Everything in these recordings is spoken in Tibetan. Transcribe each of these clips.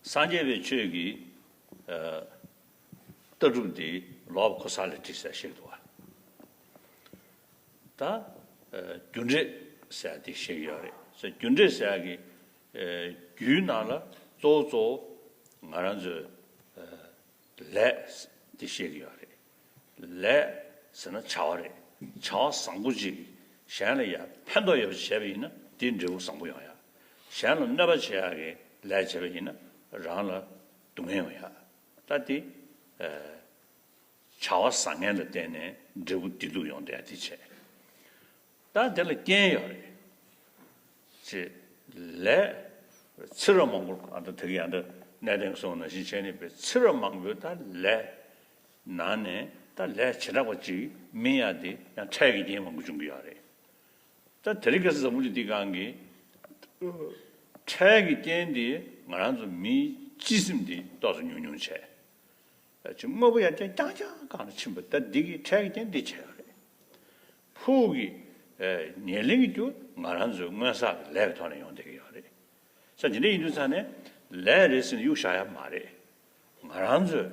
སངས་རྒྱས་པའི་ཆོས་ཀྱི་ལྟ་གྲུབ་འདི་ལོག་པ་ཁོ་ས་ལ་བྲིས་ཟེར་ཞིག་འདུག་ད། རྒྱུ་འབྲས་ཟེར་དེ་ཞིག་ཡོད་རེད་ས་རྒྱུ་འབྲས་ཟེར་གྱི་རྒྱུའི་ནང་ལ་གཙོ་བོ་གཙོ་བོ་ང་རང་ཚོའི་ལས། འདི་བཤད་ཀྱི་ཡོད་རེད། ལས། ཟེར་ན་བྱ་བ་རེད། བྱ་བ་བཟང་པོ་ཅིག་གཞན་ལ་ཡར་ཕན་ཐོགས་ཡོད་པ་བྱས་པ་ཡིན་ན་དེའི་འབྲས་བུ་བཟང་པོ་ཡོང་ཡ། གཞན་ལ་གནོད་པ་བྱེད་ཡ་གི་ལས་བྱས་པ་ཡིན་ན་རང་ལ་སྡུག་བསྔལ་ཡོང་ཡ། ད་དེ། བྱ་བ་བཟང་ངན་ལ་བརྟེན་ནས་འབྲས་བུ་བདེ་སྡུག་ཡོང་འདོད་ཡ་དེ་བྱས། ད་དེ་ལ་རྐྱེན་ཡོད་རེད། ཅེས་ལས། ཚེ་རབས་མང་པོར་ཨ་ད་དེ་གི་ཡང་ད་གནས་དེང་སོང་ན་ཞིག་བྱས་ནས་པའི་ཚེ་རབས་མང་པོའི་ད་ལས། ནང་ནས་ད་ལས་བྱེ་བྲག་པ་ཅིག་མིན་ཡ་དེ་ཡང་འཕྲལ་གྱི་རྐྱེན་མང་པོ་བྱུང་གི་ཡོད་རེད། ད་དེ་རིགས་གས་ས་བུ་ཅིག་དེ་གང་གི། འཕྲལ་གྱི་རྐྱེན་དེས་ང་རང་ཚོ་མིའི་སྤྱི་སེམས་དེ་རྟོགས་སུ་ཉུང་ཉུང་བྱས། ཀྱི་དངོས་པོ་ཡང་ཅིང་རྐྱང་རྐྱང་བཀང་ནས་ཕྱིན་པ་ལྟར་འདི་གིས་འཕྲལ་གྱི་རྐྱེན་འདི་བྱས་པ་རེད། ཕུགས་ཀྱི་ཉེར་གླེང་གི་རྒྱུ་ང་རང་ཚོའི་སྔོན་བསགས་ཀྱི་ལས་ཀྱི་ཐོག་ནས་ཡོང་བསྡད་ཀྱི་ཡོད་རེད། ས་ཇི་འདྲའི་ཡིན་དུས་ཚང་ནས་ལས་རེད་ཟེར་ནས་གཡུག་བཞག་ཡ་མ་རེད། ང་རང་ཚོས་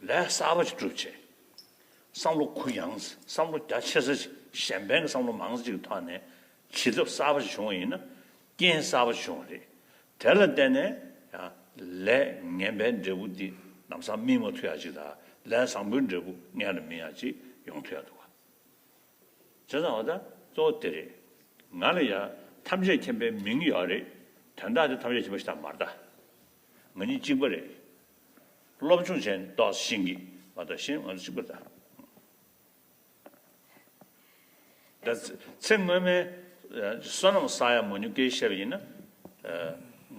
ལས་གསར་པ་ཞིག་སྒྲུབ་ཆེད་བསམ་བློ་གུ་ཡངས་ས་བསམ་བློ་རྒྱ་ཆེ་ས་ཞིག་གཞན་ཕན་གྱི་བསམ་བློ་མང་ས་ཞིག་གི་ཐོག་ནས་བྱེད་ཐབས་གསར་པ་ཞིག་བྱུང་བ་ཡིན་ན། རྐྱེན་གསར་པ་བྱུང་བ་རེད། དེ་ལ་བརྟེན་ནས་ཡང་ལས་ངན་པའི་འབྲས་བུ་འདི་ནམ་སང་སྨིན་མ་ཐུ་ཡ་ཅིག་དང་ལས་བཟང་པོའི་འབྲས་བུ་སྔས་ལ་སྨིན་ཡ་ཅིག་ཡོང་ཐུ་ཡ་འདུག་ག་བྱས་ཙང་བ་ད་གཙོ་བོ་དེ་རེད། ང་ལ་ཡང་ཐམས་ཅད་མཁྱེན་པའི་མིང་ཡོད་རེད། དོན་དག་དེ་ཐམས་ཅད་མཁྱེན་པ་ཞིག་དང་མ་རེད་ད། ང་གཉིས་གཅིག་པ་རེད། སློབ་སྦྱོང་བྱས་ནས་རྟོགས་ཤིང་གིས་མ་རྟོགས་ཤིང་ང་ཚོ་གཅིག་པ་རེད་ད། ཚེ་སྔོན་མའི་བསོད་ནམས་བསགས་ཡ་མོ་ཉུ་གེའི་ཞབས་ཡིན་ན།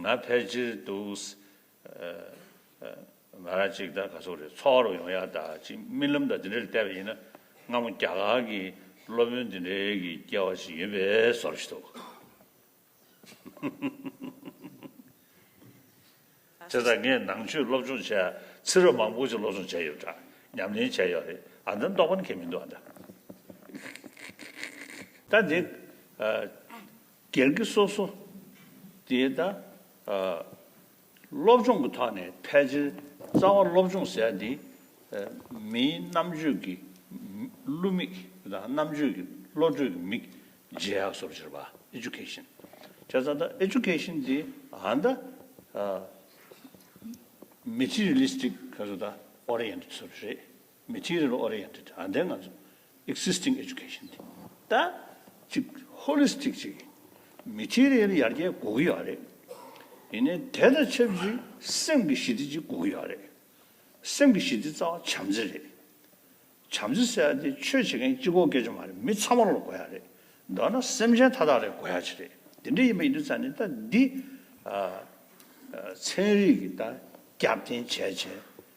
ང་ཕལ་ཆེར་འདུག། ང་རང་ཅིག་ད་ག་སོག་རེད་འཚོ་བ་རོགས་ཡོང་ཡ་ད་ཅིག་རྨི་ལམ་ད་འདི་འདྲ་རེད་བལྟས་པ་ཡིན་ན། སྔ་མོ་རྒྱ་གར་གྱི་སློབ་དཔོན་འདི་འདྲའི་གི་སྐྱེ་བ་ཞིག་ཡོད་པས་བཟོ་རེད་འདུག། དེ་ལྟར་ངས་ནང་ཆོས་སློབ་སྦྱོང་བྱས། ཚེ་རབས་མང་པོ་ཅིག་སློབ་སྦྱོང་བྱས་ཡོད་འདྲ། ཉམས་ལེན་བྱས་ཡོད་རེད། ཨ་འདམ་རྟོགས་པ་ནི་ཁྱེད་མི་འདུག་ཨ་འདམ། ད་འདི། སྒེར་གྱི་སོ་སོ། དེ་ད། སློབ་སྦྱོང་གི་ཐོག་ནས་ཕལ་ཆེར་རྩ་བ་སློབ་སྦྱོང་ཟེར་དེ། མིའི་རྣམ་དཔྱོད་ཀྱི་བསླུ་མིག་དང་རྣམ་དཔྱོད་ཀྱི་བློ་གྲོས་ཀྱི་མིག་རྗེས་ཡག་སོར་གྱུར་པ Education བྱས་ཙང་ད Education དེ་ཧ་ད Materialistic Oriented སོར་རེད། Material Oriented ཨ་འདས་ང་ཚོ Existing Education དེ་ད་ཅིག Holistic ཅིག་ཡིན། Material ཡར་རྒྱས་དགོས་ཀྱི་ཡོད་རེད། ཡིན་ནའི་དེ་དང་ཆབས་ཅིག་སེམས་ཀྱི་ཞི་བདེ་ཅིག་དགོས་ཀྱི་ཡོད་རེད། སེམས་ཀྱི་ཞི་བདེ་རྩ་བ་བྱམས་བརྩེ་རེད། བྱམས་བརྩེ་ཟེར་ཡ་དེ་ཆོས་བྱེད་མཁན་གཅིག་གོ་སྐད་ཅིག་མ་རེད་མི་ཚང་མ་ལ་དགོས་ཡ་རེད། མདོར་ན་སེམས་ཅན་མཐའ་དག་ལ་དགོས་ཡ་ཅིག་རེད། དེ་འདྲ་ཡིན་པ་ཡིན་དུས་ཙང་ནས་ད་འདི། ཚན་རིག་གི་ད་རྒྱབ་རྟེན་བྱས་བྱས་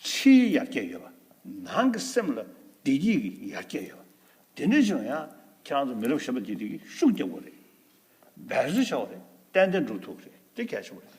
ཕྱིའི་ཡར་རྒྱས་ཡོད་པ། ནང་གི་སེམས་ལ་བདེ་སྐྱིད་ཀྱི་ཡར་རྒྱས་ཡོད་པ། དེ་འདྲའི་ཆེ་བ་ཡང་ཁྱེད་རང་ཚོ་མི་རབས་བཞི་པ་འདིས་དེ་གི་ཤུགས་རྒྱབ་དགོས་རེད། འབད་བརྩོན་བྱ་བ་རེད། ཏན་ཏན་འགྲོ་ཐུབ་རེད་དེ་གལ་ཆེ་བ་རེད།